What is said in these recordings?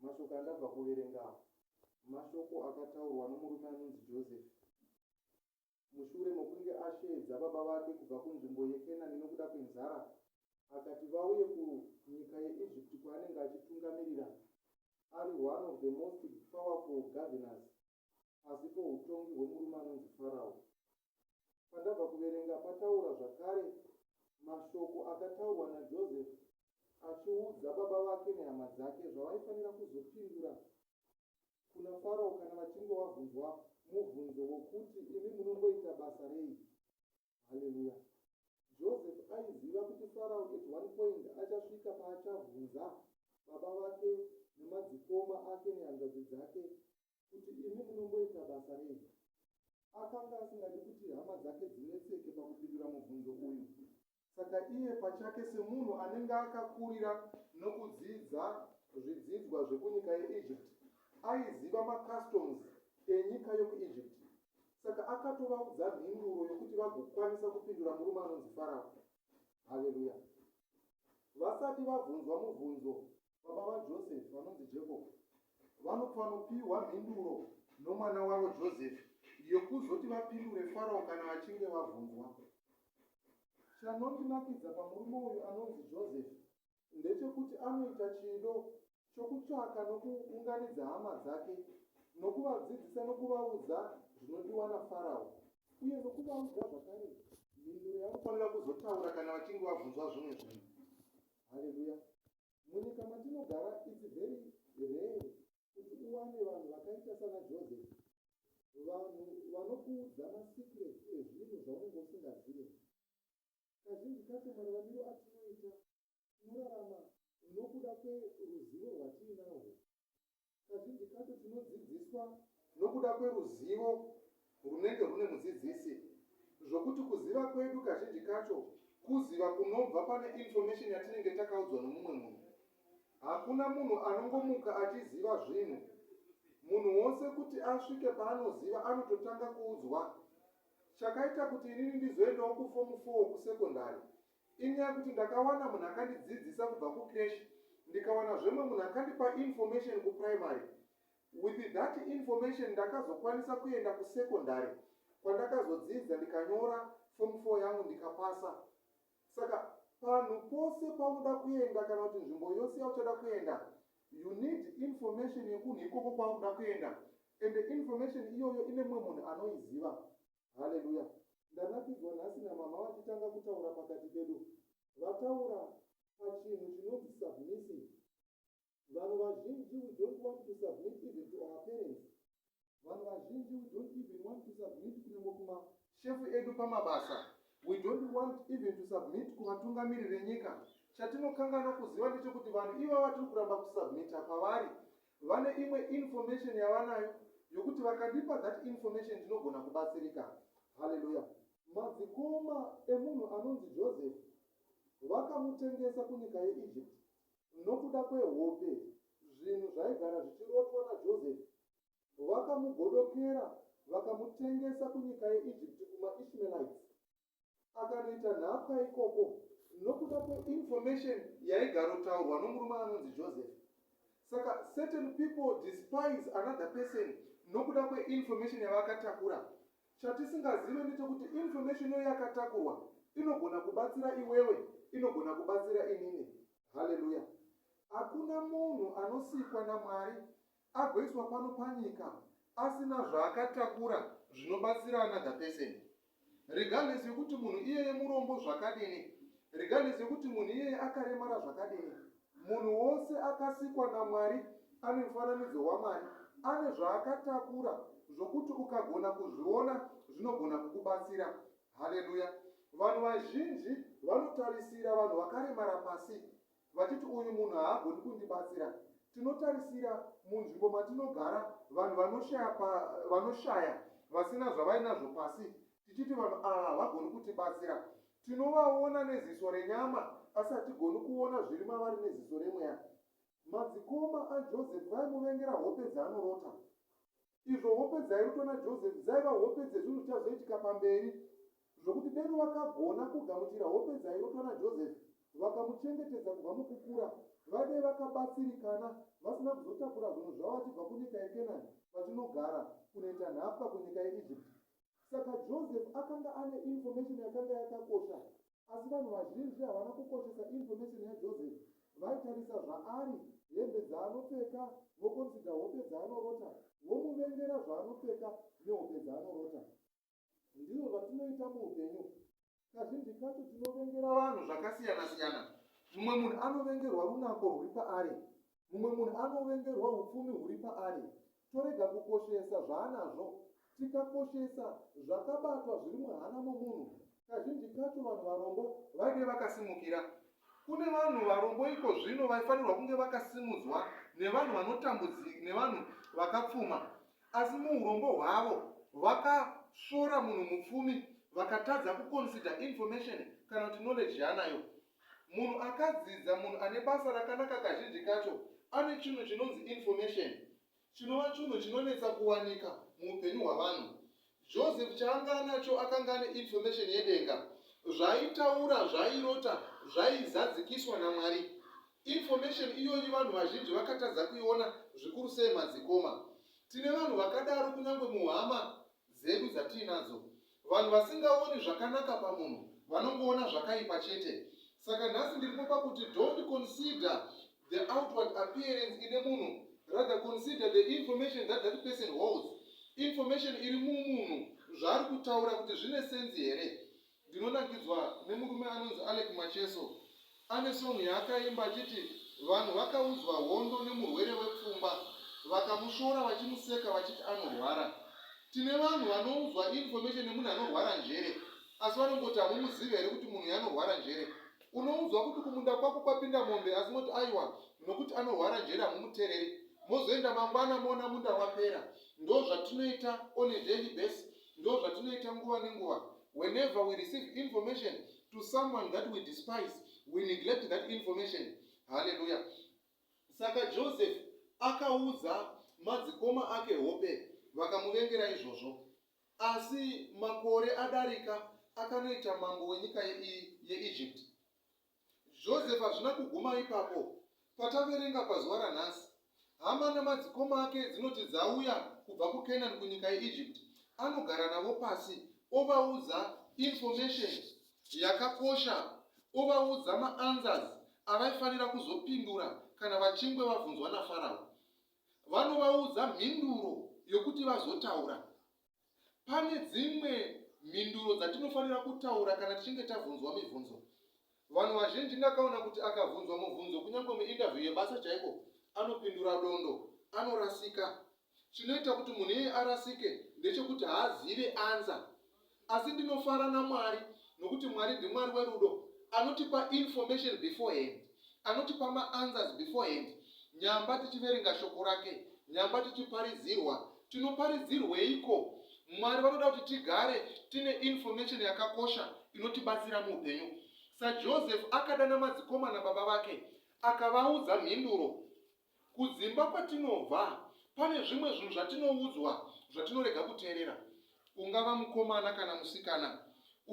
Mashoko andabva kuverenga awa mashoko akataurwa nomurume anonzi Joseph mushure mokunge asheedza baba vake kubva kunzvimbo yeKenani nokuda kwenzara akati vauye kunyika yeEgypt kwaanenge achitungamirira ari one of the most powerful governors pasi poutongi hwemurume anonzi Farao. Pandabva kuverenga pataura zvakare mashoko akataurwa naJoseph achiudza baba vake nehama dzake zvavaifanira kuzopindura kuna Farao kana vachinge vabvunzwa mubvunzo wokuti, Imi munongoita basa rei? Haleluya. Joseph aiziva kuti Farao at one point achasvika paachabvunza baba vake nemadzikoma ake nehanzvadzi dzake kuti imi munomboita basa rei. Akanga asingadi kuti hama dzake dzinetseke pakupindura mubvunzo uyu. Saka iye pachake semunhu anenge akakurira nokudzidza zvidzidzwa zvekunyika yeEgypt, aiziva macustoms enyika yokuEgypt Saka akatovaudza mhinduro yokuti vagokwanisa kupindura murume anonzi Farao. Haleluya! Vasati vabvunzwa mubvunzo, baba vaJosefi vanonzi Jakobo vanofanopiwa mhinduro nomwana wavo Josefi yokuzoti vapindure Farao kana vachinge vabvunzwa. Chanondinakidza pamurume uyu anonzi Josefi ndechekuti anoita chido chokutsvaka nokuunganidza hama dzake nokuvadzidzisa nokuvaudza zvinodiwa naFarao uye nokuvaudza zvakare mhinduro yavanofanira kuzotaura kana vachinge vabvunzwa zvimwe zvinhu. Haleluya! Munyika matinogara, it's very rare kuti uwane vanhu vakaita sana Joseph, vanhu vanokuudza masecrets ezvinhu zvaunenge usingazive. Kazhinji kacho mararamiro atinoita tinorarama nokuda kweruzivo rwatiinarwo. Kazhinji kacho tinodzidziswa nokuda kweruzivo rwunenge rwune mudzidzisi zvokuti kuziva kwedu kazhinji kacho kuziva kunobva pane information yatinenge takaudzwa nomumwe munhu. Hakuna munhu anongomuka achiziva zvinhu. Munhu wose kuti asvike paanoziva anototanga kuudzwa Chakaita kuti inini ndizoendawo kufomu four kusekondari inyaya yekuti ndakawana munhu akandidzidzisa kubva kucreche ndikawana zvemwe munhu akandipa information kuprimary. With that information ndakazokwanisa kuenda kusekondari kwandakazodzidza ndikanyora fomu four yangu ndikapasa. Saka panhu pose paunoda kuenda kana kuti nzvimbo yose yauchada kuenda you need information yekunhu ikoko kwaunoda kuenda and information iyoyo ine mumwe munhu anoiziva. Haleluya! Ndanakidzwa nhasi namama vachitanga kutaura pakati pedu. Vataura pachinhu chinonzi submissive. Vanhu vazhinji we don't want to submit even to our parents. Vanhu vazhinji we don't even want to submit kunyangwe kuma shefu edu pamabasa. We don't want even to submit kuvatungamiri venyika. Chatinokanganwa kuziva ndechekuti vanhu iva vatiri kuramba kusubmita kwavari vane imwe information yavanayo yokuti vakandipa that information ndinogona kubatsirika haleluya madzikoma emunhu anonzi joseph vakamutengesa kunyika yeegypt nokuda kwehope, zvinhu zvaigara zvichirotwa naJosefi, vakamugodokera vakamutengesa kunyika yeEgypt kumaIshmaelites. Akanoita nhapwa ikoko nokuda kweinformation yaigarotaurwa nomurume anonzi Joseph. Saka certain people despise another person nokuda kweinformation yavakatakura. Chatisingazive ndechekuti information iyo yakatakurwa inogona kubatsira iwewe, inogona kubatsira inini. Hallelujah. Hakuna munhu anosikwa naMwari agoiswa pano panyika asina zvaakatakura zvinobatsira another person. Regardless yekuti munhu iyeye murombo zvakadini, regardless yekuti munhu iyeye akaremara zvakadini, Munhu wose akasikwa naMwari ane mufananidzo waMwari. Ane zvaakatakura zvokuti ukagona kuzviona zvinogona kukubatsira. Haleluya! Vanhu vazhinji vanotarisira vanhu vakaremara pasi vachiti, Uyu munhu haagoni kundibatsira. Tinotarisira munzvimbo matinogara vanhu vanoshaya, pa, vanoshaya vasina zvavainazvo pasi tichiti vanhu ava havagoni kutibatsira. Tinovaona neziso renyama asi hatigoni kuona zviri mavari neziso remweya. Madzikoma aJoseph vaimuvengera hope dzaanorota. Izvo hope dzairotwa naJoseph dzaiva hope dzezvinhu zvichazoitika pamberi zvokuti deno vakagona kugamuchira hope dzairotwa naJoseph vakamuchengetedza kubva mukukura vadei vakabatsirikana vasina kuzotakura zvinhu zvavo vachibva kunyika yekenani vachinogara kunoita nhapwa kunyika yeegypt Saka Joseph akanga ane information yakanga yakakosha, asi vanhu vazhinji havana kukoshesa information yaJoseph. Vaitarisa zvaari, hembe dzaanopfeka, voconsider hope dzaanorota, vomuvengera zvaanopfeka nehope dzaanorota. Ndizvo zvatinoita muupenyu. kazhinji kacho tinovengera vanhu zvakasiyana siyana mumwe munhu anovengerwa runako rwuri paari mumwe munhu anovengerwa upfumi huri paari torega kukoshesa zvaanazvo tikakoshesa zvakabatwa zviri muhana momunhu kazhinji kacho vanhu varombo vaive vakasimukira kune vanhu varombo iko zvino vaifanirwa kunge vakasimudzwa nevanhu vanotambudzika nevanhu vakapfuma Asi muhurombo hwavo vakasvora munhu mupfumi vakatadza kuconsider information kana kuti knowledge yaanayo. Munhu akadzidza, munhu ane basa rakanaka kazhinji kacho ane chinhu chinonzi information chinova chunhu chinonetsa kuwanika muupenyu hwavanhu. Joseph chaanga anacho akanga ane information yedenga. Zvaaitaura, zvaairota zvaizadzikiswa naMwari. Information iyoyi vanhu vazhinji vakatadza kuiona zvikuru sei madzikoma. Tine vanhu vakadaro kunyangwe muhama dzedu dzatiinadzo. Vanhu vasingaoni zvakanaka pamunhu vanongoona zvakaipa chete. Saka nhasi ndiripo pakuti don't consider The outward appearance ine munhu rather consider the information that that person holds information iri mumunhu zvaari kutaura kuti zvine senzi here ndinonakidzwa nemurume anonzi alec macheso ane songi yaakaimba achiti vanhu vakaudzwa hondo nemurwere wepfumba vakamushora vachimuseka vachiti anorwara tine vanhu vanoudzwa information nemunhu anorwara njere asi vanongoti hamumuzive here kuti munhu yanorwara njere Unoudzwa kuti kumunda kwako kwapinda mombe asi moti aiwa nokuti anorwara njere hamumutereri. Mozoenda mangwana moona munda wapera. Ndozvatinoita on a daily basis. Ndozvatinoita nguva nenguva. Whenever we receive information to someone that we despise, we neglect that information. Hallelujah. Saka Joseph akaudza madzikoma ake hope vakamuvengera izvozvo. Asi makore adarika akanoita mambo wenyika yeEgypt. Joseph hazvina kuguma ipapo. Pataverenga pazuva ranhasi, hama namadzikoma ake dzinoti dzauya kubva kuCanaan kunyika yeEgypt. Anogara navo pasi ovaudza information yakakosha, ovaudza maanswers avaifanira kuzopindura kana vachingwe vabvunzwa naFarao. vanovaudza mhinduro yokuti vazotaura. Pane dzimwe mhinduro dzatinofanira kutaura kana tichinge tabvunzwa mibvunzo. Vanhu vazhinji ndakaona kuti akabvunzwa mubvunzo kunyange muinterview yebasa chaiko, anopindura dondo, anorasika. Chinoita kuti munhu iyeye arasike ndechekuti haazive anza. Asi ndinofara naMwari nokuti Mwari ndiMwari werudo anotipa information beforehand. Anotipa maanswers beforehand nyamba tichiverenga shoko rake, nyamba tichiparidzirwa. Tinoparidzirweiko? Mwari vanoda kuti tigare tine information yakakosha inotibatsira muupenyu. SaJoseph akadana madzikomana baba vake akavaudza mhinduro Kudzimba kwatinobva pane zvimwe zvinhu zvatinoudzwa zvatinorega kuteerera. Ungava mukomana kana musikana,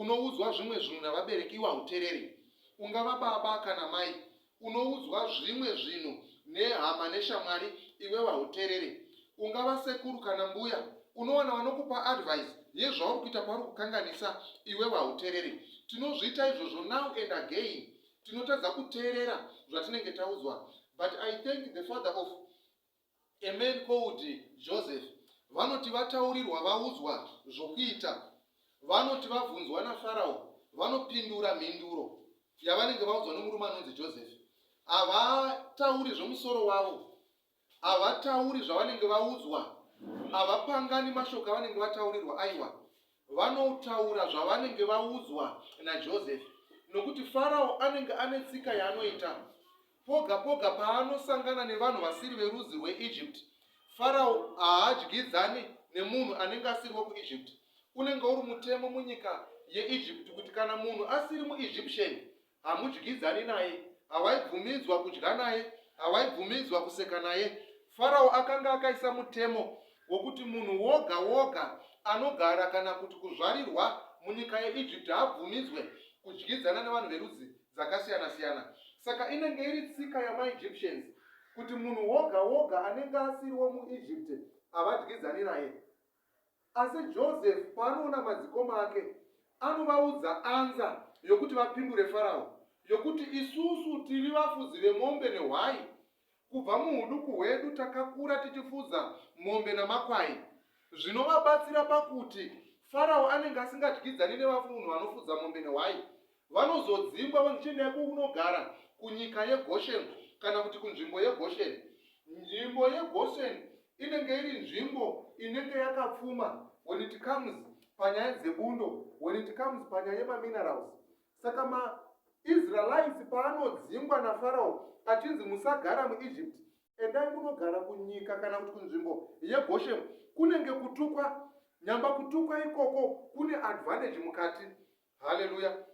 unoudzwa zvimwe zvinhu navabereki iwe hautereri. Ungava baba kana mai, unoudzwa zvimwe zvinhu nehama neshamwari iwewe hauterere. Ungava sekuru kana mbuya, unowana vanokupa advice yezvauri kuita pauri kukanganisa iwewe hauterere. Tinozviita izvozvo now and again. tinotadza kuteerera zvatinenge taudzwa but i thank the father of a man called joseph vanoti vataurirwa vaudzwa zvokuita vanoti vabvunzwa nafarao vanopindura mhinduro yavanenge vaudzwa nomurume anonzi joseph havatauri zvomusoro wavo Havatauri zvavanenge vaudzwa, havapangani mashoko avanenge vataurirwa, aiwa, vanotaura zvavanenge vaudzwa naJosefi, nokuti Farao anenge ane tsika yaanoita. Poga poga paanosangana nevanhu vasiri verudzi rweEgypt, Farao haadyidzani nemunhu anenge asiri wekuEgypt. Unenge uri mutemo munyika yeEgypt kuti kana munhu asiri muEgyptian Hamudyidzani naye, hawaibvumidzwa kudya naye, hawaibvumidzwa kuseka naye. Farao akanga akaisa mutemo wokuti munhu woga woga anogara kana kuti kuzvarirwa munyika yeIjipiti haabvumidzwe kudyidzana nevanhu verudzi dzakasiyana siyana. Saka inenge iri tsika yamaEgyptians kuti munhu woga woga anenge asiri womuIjipiti havadyidzani naye. Asi Joseph paanoona madzikoma ake, anovaudza anza yokuti vapindure Farao, yokuti, Isusu tiri vafudzi vemombe nehwai. Kubva muuduku hwedu takakura tichifudza mombe namakwai. Zvinovabatsira pakuti Farao anenge asingadyidzani nevafunhu vanofudza mombe nehwai, Vanozodzingwa vonzi chiendai kunogara kunyika yeGosheni kana kuti kunzvimbo yeGosheni. Nzvimbo yeGosheni inenge iri nzvimbo inenge yakapfuma when it comes panyaya dzebundo, when it comes panyaya yemaminerals. Saka maIsraelites paanodzingwa naFarao achinzi musagara muEgypt, endai kunogara kunyika kana kuti kunzvimbo yeGosheni, kunenge kutukwa. Nyamba kutukwa ikoko kune advantage mukati haleluya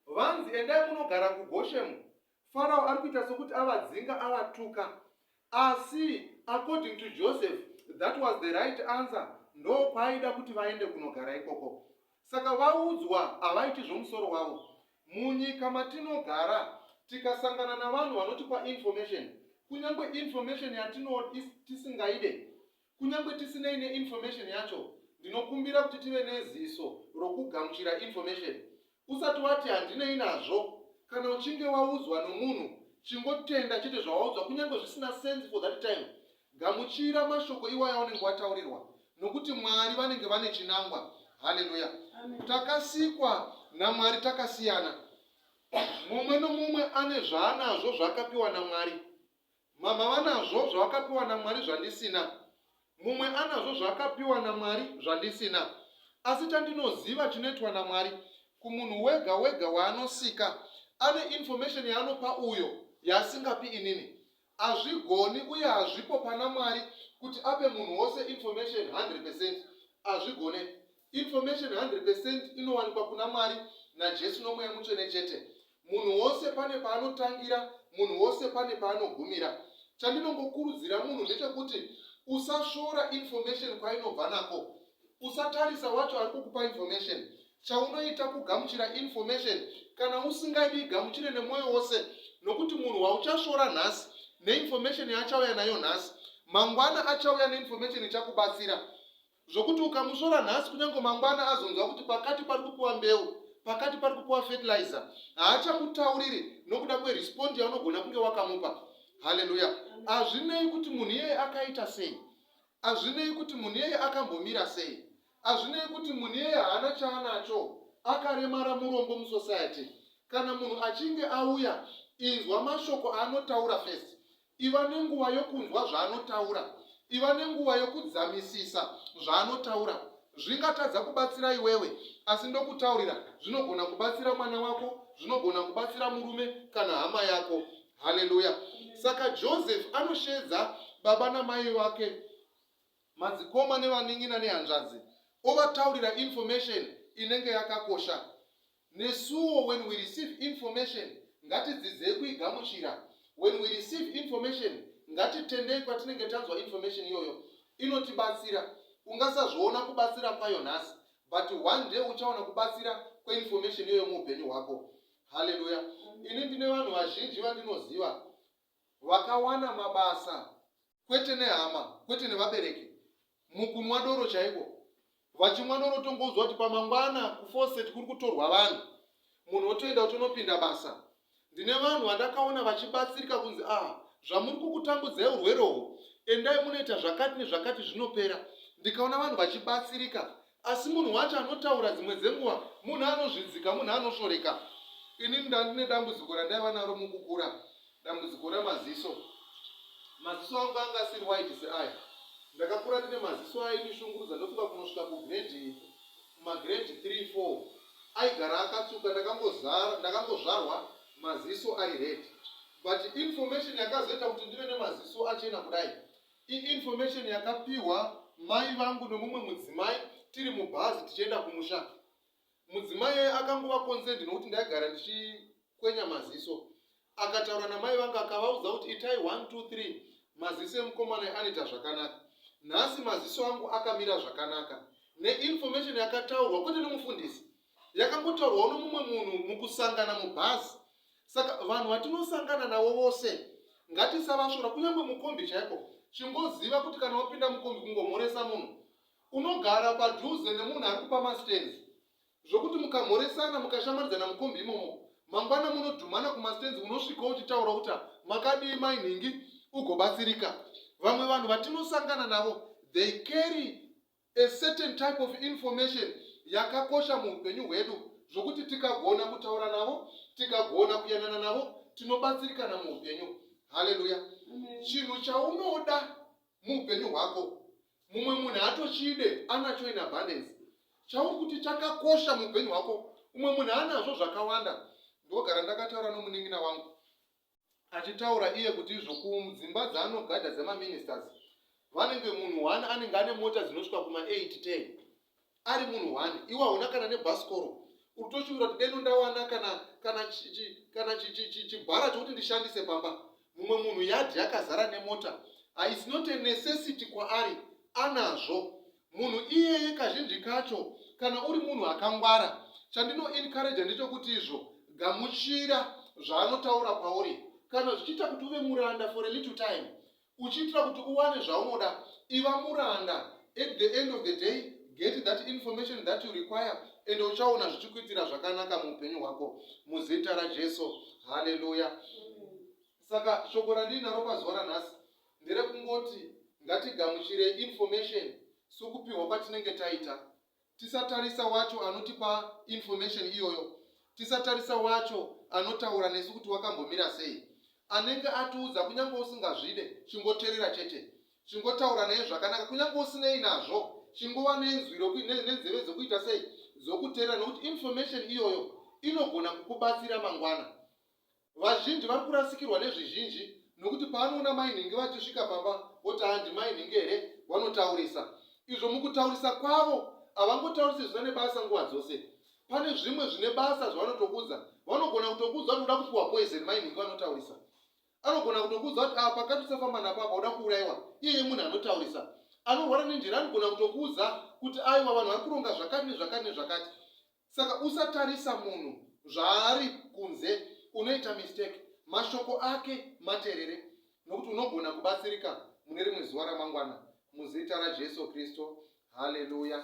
vanzi endai munogara kugoshemu farao ari kuita sokuti avadzinga avatuka asi according to joseph that was the right answer ndokwaaida kuti vaende kunogara ikoko saka vaudzwa havaiti zvomusoro wavo munyika matinogara tikasangana navanhu vanotipa information kunyange information yatino tisingaide Kunyangwe tisinei neinformation yacho, ndinokumbira kuti tive neziso rokugamuchira information. Usati wati handinei nazvo. Kana uchinge waudzwa nomunhu, chingotenda chete zvawaudzwa kunyangwe zvisina sense for that time. Gamuchira mashoko iwayo aunenge wataurirwa nokuti Mwari vanenge vane chinangwa. Haleluya! Takasikwa naMwari takasiyana. Mumwe nomumwe ane zvaanazvo zvaakapiwa naMwari. Mama vanazvo zvavakapiwa naMwari zvandisina. Mumwe anazvo zvaakapiwa naMwari zvandisina. Asi chandinoziva chinoitwa naMwari kumunhu wega wega waanosika, ane information yaanopa uyo yaasingapi inini. Hazvigoni uye hazvipo pana Mwari kuti ape munhu wose information hundred percent. Hazvigone. Information 100% inowanikwa kuna Mwari naJesu noMweya Mutsvene chete. Munhu wose pane paanotangira, munhu wose pane paanogumira. Chandinongokurudzira munhu ndechekuti usasvora information kwainobva nako. Usatarisa wacho ari kukupa information. Chaunoita kugamuchira information kana usingadi igamuchire nemwoyo wose nokuti munhu wauchasvora nhasi neinformation yaachauya nayo nhasi mangwana achauya neinformation ichakubatsira zvokuti ukamusvora nhasi kunyange mangwana azonzwa kuti pakati pari kupiwa mbeu pakati pari kupiwa fertilizer haachamutauriri nokuda kwerespondi yaunogona kunge wakamupa haleluya hazvinei kuti munhu iyeye akaita sei hazvinei kuti munhu iyeye akambomira sei hazvinei kuti munhu iyeye haana chaanacho akaremara murombo musociety kana munhu achinge auya inzwa mashoko aanotaura fesi Iva nenguva yokunzwa zvaanotaura. Iva nenguva yokudzamisisa zvaanotaura. Zvingatadza kubatsira iwewe, asi ndokutaurira, zvinogona kubatsira mwana wako, zvinogona kubatsira murume kana hama yako. Haleluya! Saka Joseph anosheedza baba namai vake, madzikoma nevanin'ina nehanzvadzi, ovataurira information inenge yakakosha. Nesuwo when we receive information ngatidzidzei kuigamuchira. When we receive information ngatitendei kwatinenge tanzwa information iyoyo. Inotibatsira. Ungasazviona kubatsira kwayo nhasi but one day uchaona kubatsira kweinformation iyoyo muupenyu hwako. Haleluya. Ini ndine vanhu vazhinji vandinoziva vakawana mabasa. kwete nehama, kwete nevabereki, mukunwa doro chaiko. Vachimwa doro tongoudzwa kuti pamangwana kuFawcett kuri kutorwa vanhu, munhu otoenda otonopinda basa. Ndine vanhu vandakaona vachibatsirika kunzi ah zvamuri kukutambudzai urwere uhwu, endai munoita zvakati nezvakati zvinopera. Ndikaona vanhu vachibatsirika Asi munhu wacho anotaura dzimwe dzenguva munhu anozvidzika, munhu anosvoreka. Inini ndandine dambudziko randaiva naro mukukura, dambudziko remaziso. Maziso angu anga asiri white seaya. Ndakakura ndine maziso aindishungurudza ndofunga kunosvika kugrade kumagrade 3 4 aigara akatsvuka. Ndakangozara ndakangozvarwa maziso ari red but information yakazoita kuti ndive nemaziso achena kudai Information yakapihwa mai vangu nomumwe mudzimai tiri mubhazi tichienda kumusha. Mudzimai akangova concerned nokuti ndaigara ndichikwenya maziso. Akataura namai vangu akavaudza kuti itai 1 2 3 maziso emukomana anoita zvakanaka. Nhasi maziso angu akamira zvakanaka neinformation yakataurwa kwete nomufundisi. yakangotaurwawo nomumwe munhu mukusangana mubhazi. Saka vanhu vatinosangana navo vose ngatisavasvora, kunyange mukombi chaiko. Chingoziva kuti kana wapinda mukombi kungomhoresa munhu unogara padhuze nemunhu ari kupa mastenzi zvokuti mukamhoresana mukashamaridzana mukombi imomo mangwana munodhumana kumastenzi unosvika uchitaura kuti makadii mainhingi ugobatsirika vamwe vanhu vatinosangana navo they carry A certain type of information yakakosha muhupenyu hwedu zvokuti tikagona kutaura navo, tikagona kuyanana navo, tinobatsirikana muhupenyu. Haleluya! Chinhu chaunoda muhupenyu hwako mumwe munhu haatochide, anacho in abundance. Chauri kuti chakakosha muhupenyu hwako umwe munhu anazvo zvakawanda. Ndogara ndakataura nomunin'ina wangu achitaura iye kuti izvo kudzimba dzaanogadha dzemaministers vanenge munhu one anenge ane mota dzinosvika kuma 8 10 ari munhu one iwe hauna kana nebhasikoro utoshuvira kuti deno ndawana kana kana kana chibhara chokuti ndishandise pamba mumwe munhu yadhi yakazara nemota haisi not a necessity kwaari anazvo munhu iyeye kazhinji kacho kana uri munhu akangwara chandino encourage ndechokuti izvo gamuchira zvaanotaura kwauri kana zvichiita kuti uve muranda for a little time uchiitira kuti uwane zvaunoda iva muranda at the end of the day get that information that you require and uchaona zvichikuitira zvakanaka muupenyu hwako muzita rajesu haleluya saka shoko randiri naro pazuva ranhasi nderekungoti ngatigamuchire information sokupihwa kwatinenge taita tisatarisa wacho anotipa information iyoyo tisatarisa wacho anotaura nesu kuti wakambomira sei anenge atiudza kunyange usingazvide chingoterera chete chingotaura naye zvakanaka kunyange usinei nazvo chingova nenzwi nenzeve dzokuita sei dzokuterera nokuti information iyoyo inogona kukubatsira mangwana Vazhinji vari kurasikirwa nezvizhinji nokuti paanoona mai nhingi vachisvika pamba voti handi mai nhingi here vanotaurisa izvo mukutaurisa kwavo havangotaurisi zvisina nebasa nguva dzose pane zvimwe zvine basa zvavanotokuudza vanogona kutokuudza kuti uda kupiwa poison mai nhingi vanotaurisa anogona kutokuudza kuti apa ah, katusafamba napo apa uda kuurayiwa iyeye munhu anotaurisa anorwara nenjira anogona kutokuudza kuti aiwa vanhu vari kuronga zvakati nezvakati nezvakati Saka usatarisa munhu zvaari kunze unoita mistake mashoko ake materere nokuti unogona kubatsirika mune rimwe zuva ramangwana muzita raJesu Kristu haleluya.